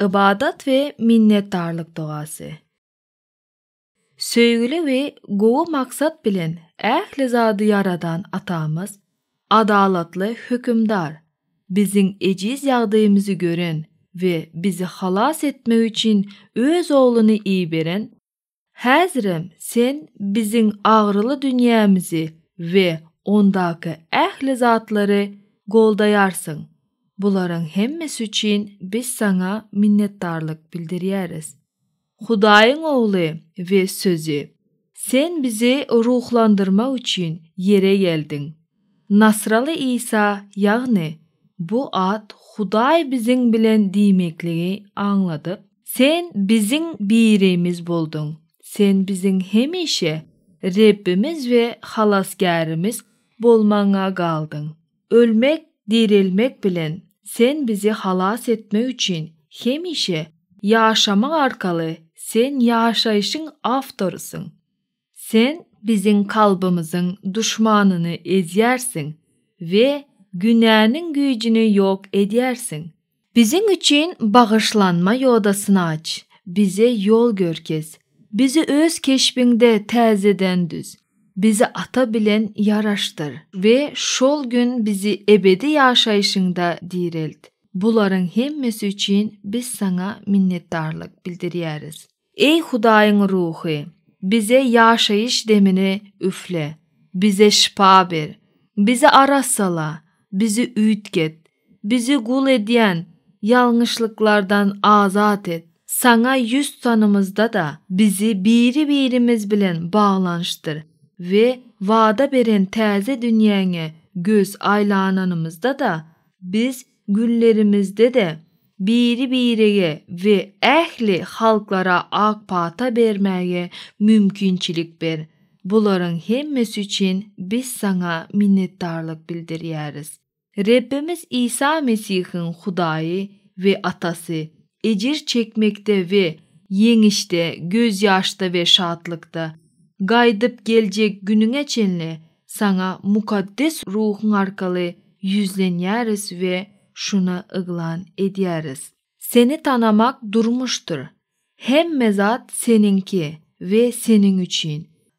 Ybadat we minnetdarlyk dogasy. Söýgüli we gowy maksat bilen ähli zady ýaradan Atamyz, adalatly Hökümdar, biziň ejiz ýagdaýymyzy gören we bizi halas etmek üçin Öz Ogluny iberen, häzirem Sen biziň agyryly dünýämizi we ondaky ähli zatlary goldaýarsyň. Bularyň hemmesi üçin biz Saňa minnetdarlyk bildirýäris. Hudaýyň Ogly we Sözi, Sen bizi ruhlandyrmak üçin ýere geldiň. Nasraly Isa, ýagny bu at Hudaý biziň bilen diýmekligi aňladyp, Sen biziň birimiz bolduň, Sen biziň hemişe Rebbimiz we Halasgärimiz bolmagyňa galdyň. Ölmek, direlmek bilen Sen bizi halas etmek üçin hemişe ýaşamak arkaly Sen ýaşaýşyň awtorysyň. Sen biziň kalbymyzyň duşmanyny ezýärsiň we günäniň güýjüni ýok edýärsiň. Biziň üçin bagyşlanma ýodasyny aç, bize ýol görkez, bizi öz keşbiňde täzeden düz, bizi Ata bilen ýaraşdyr we şol gün bizi ebedi ýaşaýşyňda direlt. Bularyň hemmesi üçin biz Saňa minnetdarlyk bildirýäris. Eý Hudaýyň Ruhy, bize ýaşaýyş demini üfle, bize şypa ber, bizi arassala, bizi üýtget, bizi gul edýän ýalňyşlyklardan azat et. Saňa ýüz tutanymyzda-da, bizi biri-birimiz bilen baglanyşdyr we wada beren täze dünýäňe göz aýlananymyzda-da, biz günlerimizde-de biri-birege we ähli halklara ak pata bermäge mümkinçilik ber. Bularyň hemmesi üçin biz Saňa minnetdarlyk bildirýäris. Rebbimiz Isa Mesihiň Hudaýy we Atasy, Ejir çekmekde we ýeňişde, gözýaşda we şatlykda, gaýdyp geljek günüňe çenli Saňa Mukaddes Ruhuň arkaly ýüzlenýäris we şuny yglan edýäris. Seni tanamak durmuşdyr. Hemme zat Seniňki we Seniň üçin.